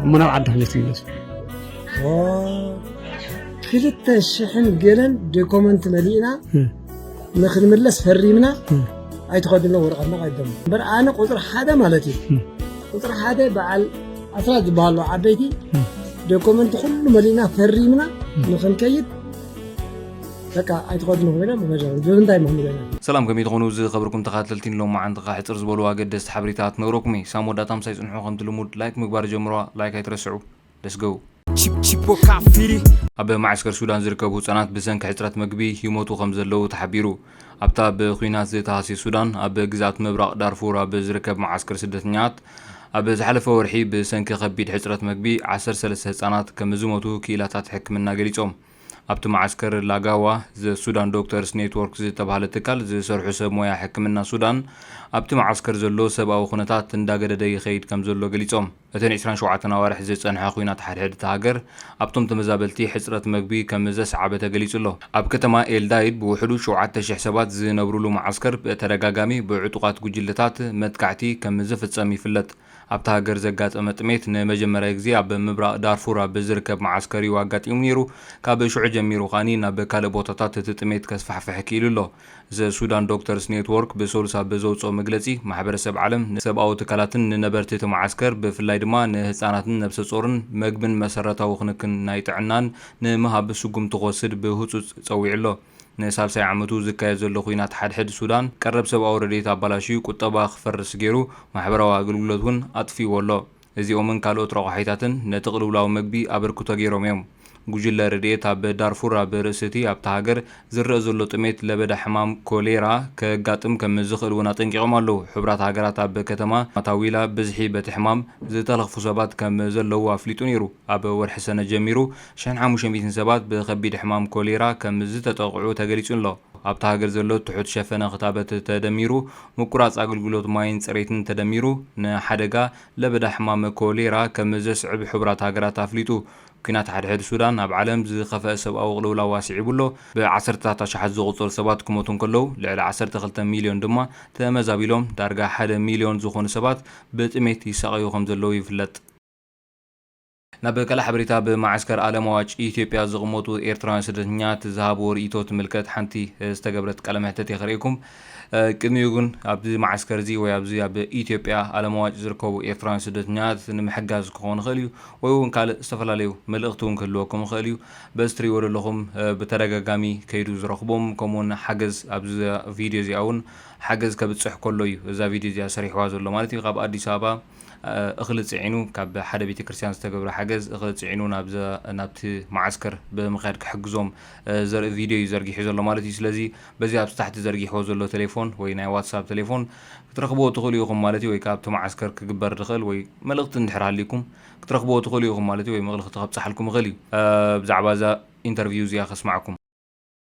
እሞ ናብ ዓዲ ከመይ ትምለሱ ክልተ ሽሕን ገለን ዶኮመንት መሊእና ንክንምለስ ፈሪምና ኣይትኸድሎ ወረቐትና ቀደሙ እምበር ኣነ ቁፅሪ ሓደ ማለት እዩ ቁፅሪ ሓደ በዓል ኣስራት ዝበሃሉ ዓበይቲ ዶኮመንት ኩሉ መሊእና ፈሪምና ንክንከይድ በቃ ኣይትኸዱ ንክበለ ምኸጃ ብምንታይ ምክንበለ ሰላም ከመይ ትኾኑ ዝኸብርኩም ተኻተልቲ ሎማዓንቲ ከ ሕጽር ዝበሉ ኣገደስቲ ሓበሬታ ክነግረኩም እየ ሳም ወዳታ ምሳይ ጽንሑ ከምቲ ልሙድ ላይክ ምግባር ጀምርዋ ላይክ ኣይትረስዑ ለስ ገው ኣብ ማዕስከር ሱዳን ዝርከቡ ህጻናት ብሰንኪ ሕጽረት መግቢ ይሞቱ ከም ዘለዉ ተሓቢሩ ኣብታ ብኲናት ዝተሃስየ ሱዳን ኣብ ግዝኣት ምብራቕ ዳርፉር ኣብ ዝርከብ መዓስከር ስደተኛት ኣብ ዝሓለፈ ወርሒ ብሰንኪ ከቢድ ሕጽረት መግቢ ዓሰርተ ሰለስተ ህጻናት ከም ዝሞቱ ክኢላታት ሕክምና ገሊጾም ኣብቲ መዓስከር ላጋዋ ዘ-ሱዳን ዶክተርስ ኔትዎርክ ዝተብሃለ ትካል ዝሰርሑ ሰብ ሞያ ሕክምና ሱዳን፣ ኣብቲ መዓስከር ዘሎ ሰብኣዊ ኩነታት እንዳገደደ ይኸይድ ከምዘሎ ገሊጾም። እቲ ንዕስራን ሸውዓተን ኣዋርሕ ዝጸንሐ ኵናት ሓድሕድ እታ ሃገር ኣብቶም ተመዛበልቲ ሕጽረት መግቢ ከምዘስዓበ ተገሊጹ ኣሎ። ኣብ ከተማ ኤልዳይድ ብውሕዱ ሸውዓተ ሽሕ ሰባት ዝነብሩሉ መዓስከር ብተደጋጋሚ ብዕጡቓት ጉጅለታት መጥቃዕቲ ከምዝፍጸም ይፍለጥ። ኣብታ ሃገር ዘጋጠመ ጥሜት ንመጀመርያ ግዜ ኣብ ምብራቕ ዳርፉር ኣብ ዝርከብ መዓስከር እዩ ኣጋጢሙ ነይሩ። ካብ ሽዑ ጀሚሩ ኸኣኒ ናብ ካልእ ቦታታት እቲ ጥሜት ከስፋሕፍሕ ክኢሉ ኣሎ። The Sudan Doctors Network ብሰሉስ ኣብ ዘውጽኦ መግለጺ፣ ማሕበረሰብ ዓለም ንሰብኣዊ ትካላትን ንነበርቲ እቲ መዓስከር ብፍላይ ድማ ንህጻናትን ነብሰጾርን መግብን መሰረታዊ ክንክን ናይ ጥዕናን ንምሃብ ስጉምቲ ክወስድ ብህጹጽ ጸዊዑ ኣሎ። ንሳልሳይ ዓመቱ ዝካየድ ዘሎ ኲናት ሓድሕድ ሱዳን፣ ቀረብ ሰብኣዊ ረድኤት ኣባላሽዩ፣ ቁጠባ ክፈርስ ገይሩ፣ ማሕበራዊ ኣገልግሎት እውን ኣጥፊእዎ ኣሎ። እዚኦምን ካልኦት ረቋሒታትን ነቲ ቅልውላው መግቢ ኣበርክቶ ገይሮም እዮም። ጉጅለ ረድኤት ኣብ ዳርፉር ኣብ ርእሲ'ቲ ኣብታ ሃገር ዝረእ ዘሎ ጥሜት ለበዳ ሕማም ኮሌራ ከጋጥም ከም ዝኽእል እውን ኣጠንቂቖም ኣለዉ። ሕቡራት ሃገራት ኣብ ከተማ ማታዊላ ብዝሒ በቲ ሕማም ዝተለኽፉ ሰባት ከም ዘለዉ ኣፍሊጡ ነይሩ። ኣብ ወርሒ ሰነ ጀሚሩ፣ ሽሕን ሓሙሽተ ሚእትን ሰባት ብከቢድ ሕማም ኮሌራ ከምዝተጠቕዑ ተገሊጹ'ሎ። ኣብታ ሃገር ዘሎ ትሑት ሸፈነ ክታበት ተደሚሩ፣ ምቁራጽ ኣገልግሎት ማይን ጽሬትን ተደሚሩ ንሓደጋ ለበዳ ሕማም ኮሌራ ከምዘስዕብ ሕቡራት ሃገራት ኣፍሊጡ። ኲናት ሓድሕድ ሱዳን ኣብ ዓለም ዝኸፈኣ ሰብኣዊ ቅልውላው ኣስዒቡ'ሎ፣ ብዓሰርተታት ኣሽሓት ዝቑጸሩ ሰባት ክሞቱ እንከለዉ ልዕሊ ዓሰርተ ክልተ ሚልዮን ድማ ተመዛቢሎም፣ ዳርጋ ሓደ ሚልዮን ዝኾኑ ሰባት ብጥሜት ይሳቐዩ ከምዘለዉ ይፍለጥ። ናብ ካልእ ሓበሬታ ኣብ መዓስከር ኣለምዋጭ ኢትዮጵያ ዝቕመጡ ኤርትራውያን ስደተኛት ዝሃብዎ ርእይቶ ትምልከት ሓንቲ ዝተገብረት ቃለ መሕተት እየ ከርእየኩም። ቅድሚኡ ግን ኣብዚ መዓስከር እዚ ወይ ኣብዚ ኣብ ኢትዮጵያ ኣለምዋጭ ዝርከቡ ኤርትራውያን ስደተኛት ንምሕጋዝ ክኸውን ይኽእል እዩ ወይ እውን ካልእ ዝተፈላለዩ መልእኽቲ እውን ክህልወኩም ይኽእል እዩ። በዚ ትርእይዎ ዘለኹም ብተደጋጋሚ ከይዱ ዝረኽቦም ከምኡውን ሓገዝ ኣብዛ ቪድዮ እዚኣ እውን ሓገዝ ከብጽሕ ከሎ እዩ እዛ ቪድዮ እዚኣ ሰሪሕዋ ዘሎ ማለት እዩ ካብ ኣዲስ ኣበባ እኽሊ ጽዒኑ ካብ ሓደ ቤተ ክርስትያን ዝተገብረ ሓገዝ እኽሊ ጽዒኑ ናብቲ መዓስከር ብምክያድ ክሕግዞም ዘርኢ ቪድዮ እዩ ዘርጊሑ ዘሎ ማለት እዩ ስለዚ በዚ ኣብ ታሕቲ ዘርጊሕዎ ዘሎ ቴሌፎን ወይ ናይ ዋትሳፕ ቴሌፎን ክትረኽብዎ ትኽእሉ ኢኹም ማለት እዩ ወይ ከኣ ኣብቲ መዓስከር ክግበር ዝኽእል ወይ መልእኽቲ እንድሕር ሃልይኩም ክትረኽብዎ ትኽእሉ ኢኹም ማለት እዩ ወይ መልእኽቲ ከብጽሓልኩም ይኽእል እዩ ብዛዕባ እዛ ኢንተርቪው እዚኣ ከስማዕኩም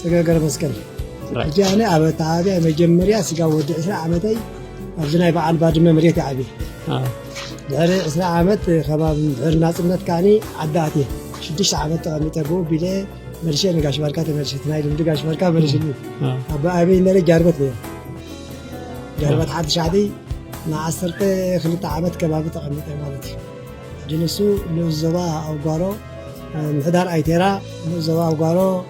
ፅገ ገረመስቀል ሕጂ ኣነ ኣብ ኣተዓባብያ መጀመርያ ስጋብ ወዲ ዕስራ ዓመተይ ኣብዚ ናይ በዓል ባድመ መሬት እየ ዓብየ ድሕሪ ዕስራ ዓመት ከባቢ ድሕሪ ናፅነት ከዓኒ ዓዲ ኣትየ ሽዱሽተ ዓመት ተቐሚጠ ብኡ ቢለ መልሸ ንጋሽ ባርካ ተመልሸ ናይ ልምዲ ጋሽ ባርካ መልሽኒ ኣብ ኣበይ ነረ ጃርበት ነረ ጃርበት ሓንቲ ሻዕዲ ንዓሰርተ ክልተ ዓመት ከባቢ ተቐሚጠ ማለት እዩ ሕጂ ንሱ ንኡስ ዞባ ኣውጓሮ ምሕዳር ኣይቴራ ንኡስ ዞባ ኣውጓሮ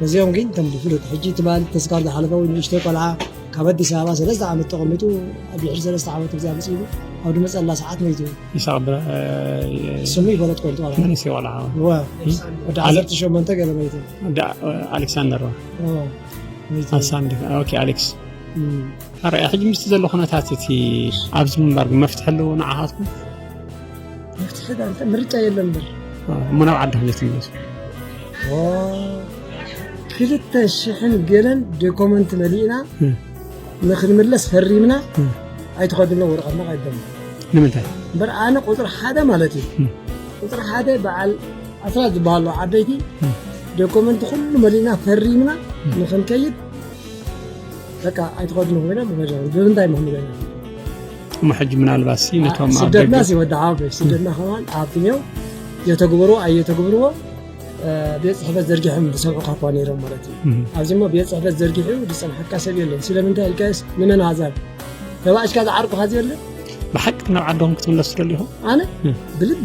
ነዚኦም ግን ከም ብፍሉጥ ሕጂ ትማሊ ተስካር ዝሓለፈዊ ንእሽተይ ቆልዓ ካብ ኣዲስ ኣበባ ሰለስተ ዓመት ተቐሚጡ ኣብ ድሕሪ ሰለስተ ዓመት እዚኣ መፅኢሉ ኣብ ድመፀላ ሰዓት መይቱ ስሙ ይፈለጥ ኮንቱ መንእሰይ ቆልዓ ወዲ ዓሰርተ ሸሞንተ ገለ መይቱ ኣሌክሳንደር ኣሌክስ ኣርኣያ ሕጂ ምስቲ ዘሎ ኩነታት እቲ ኣብዚ ምንባር መፍትሒ ኣለዎ ንዓኻትኩም ምርጫ የለን በር እሞ ናብ ዓዲ ክመፅ ይመፅ ክልተ ሽሕን ገለን ዶኮመንት መሊእና ንክንምለስ ፈሪምና ኣይትኸድሎ ወረቐትና ኣይበል ንምንታይ እምበር ኣነ ቁፅሪ ሓደ ማለት እዩ ቁፅሪ ሓደ በዓል ኣስራት ዝበሃሉ ዓበይቲ ዶኮመንት ኩሉ መሊእና ፈሪምና ንክንከይድ በቃ ኣይትኸድሉ ኮይኖም ብምንታይ ምክንገ እሞ ሕጂ ምናልባት ሲ ነቶም ስደትና ሲወድዓ ስደትና ከማን ኣብትኛው የተግብሩ ኣየተግብርዎ ቤት ፅሕፈት ዘርጊሖም ዝሰምዑካ እኳ ነይሮም ማለት እዩ ኣብዚ ሞ ቤት ፅሕፈት ዘርጊሑ ዝፀንሓካ ሰብ የለን ስለምንታይ ኢልካስ ንመን ኣዛብ ተባእሽካ ዝዓርቁካ ዘየለ ብሓቂ ናብ ዓዶም ክትምለስ ትደሊ ኢኹም ኣነ ብልቢ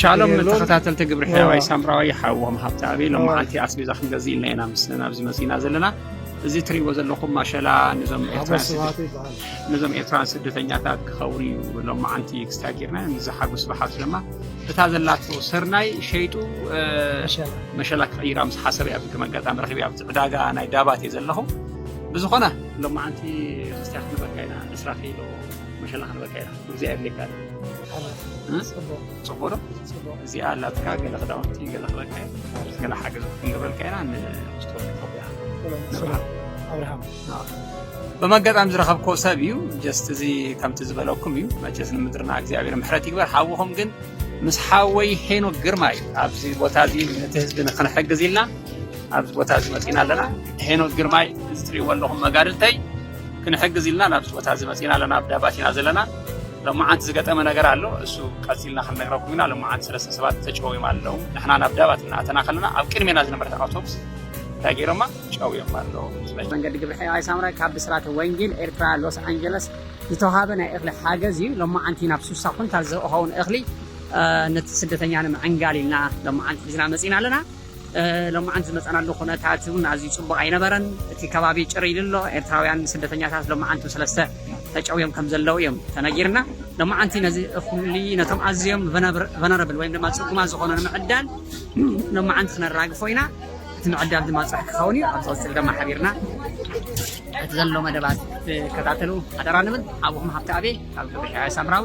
ሻሎም ተኸታተልቲ ግብሪ ሕያዋይ ሳምራዊ ሓዎም ሃብተኣብ ሎመዓልቲ ኣስቤዛ ክንገዝእ ኢልና ኢና ምስ ናብዚ መፅእና ዘለና እዚ እትሪእዎ ዘለኹም ማሸላ ነዞም ኤርትራን ስደተኛታት ክኸውን እዩ ሎመዓንቲ ክስታ ጌርና ንዝሓጉ ስብሓት ድማ እታ ዘላቶ ሰርናይ ሸይጡ መሸላ ክቕይራ ምስ ሓሰብ እያ ከም ኣጋጣሚ ረኪብ ኣብቲ ዕዳጋ ናይ ዳባት እየ ዘለኹ ብዝኾነ ሎመዓንቲ ክስትያ ክንበካ ኢና ዕስራ ኪሎ መሸላ ክንበካ ኢና እግዚኣብሔር ይባርክ። ፅቡቅ ዶ እዚኣ ኣላትካ ገለ ክዳውንቲ ገለ ክበልካ ገለ ሓገዝ ክንገብረልካ ኢና ንክስቶስ ኢትዮጵያ ንብርሃን ኣብርሃም በም ኣጋጣሚ ዝረኸብኮ ሰብ እዩ ጀስት እዚ ከምቲ ዝበለኩም እዩ መቸስ ንምድርና እግዚኣብሔር ምሕረት ይግበር ሓውኹም ግን ምስ ሓወይ ሄኖ ግርማ እዩ ኣብዚ ቦታ እዚ ነቲ ህዝቢ ንክንሕግዝ ኢልና ኣብዚ ቦታ እዚ መፂና ኣለና ሄኖ ግርማይ እዚ ትሪእዎ ኣለኹም መጋድልተይ ክንሕግዝ ኢልና ናብዚ ቦታ እዚ መፂእና ኣለና ኣብ ዳባት ኢና ዘለና ሎማዓንቲ ዝገጠመ ነገር ኣሎ እሱ ቀፂልና ክንነግረኩም ኢና ሎማዓንቲ ሰለስተ ሰባት ተጨውዮም ኣለዉ ንሕና ናብ ዳባት እናኣተና ከለና ኣብ ቅድሜና ዝነበረት ኣውቶቡስ እንታይ ገይሮማ ጨውዮም ኣለዉ መንገዲ ግብሪ ሕያዋይ ሳምረ ካብ ብስራተ ወንጌል ኤርትራ ሎስ ኣንጀለስ ዝተዋሃበ ናይ እኽሊ ሓገዝ እዩ ሎማዓንቲ ናብ ሱሳ ኩንታል ዝኸውን እኽሊ ነቲ ስደተኛ ንምዕንጋል ኢልና ሎማዓንቲ ሒዝና መፂና ኣለና ሎምዓንቲ ዝመጸናሉ ኩነታት ውን ኣዝዩ ጽቡቕ ኣይነበረን። እቲ ከባቢ ጭር ኢሉ ኣሎ። ኤርትራውያን ስደተኛታት ሎምዓንቱ ሰለስተ ተጨውዮም ከም ዘለዉ እዮም ተነጊርና። ሎምዓንቲ ነዚ እኹሊ ነቶም ኣዝዮም ቨነረብል ወይም ድማ ጽጉማት ዝኾኑ ንምዕዳል ሎምዓንቲ ክነራግፎ ኢና። እቲ ምዕዳል ድማ ጽባሕ ክኸውን እዩ። ኣብ ዝቕጽል ድማ ሓቢርና እቲ ዘሎ መደባት ክትከታተሉ ሓደራ ንብል። ሓውኹም ሃብተኣብየ ካብ ገበሒያ ሳምራዊ።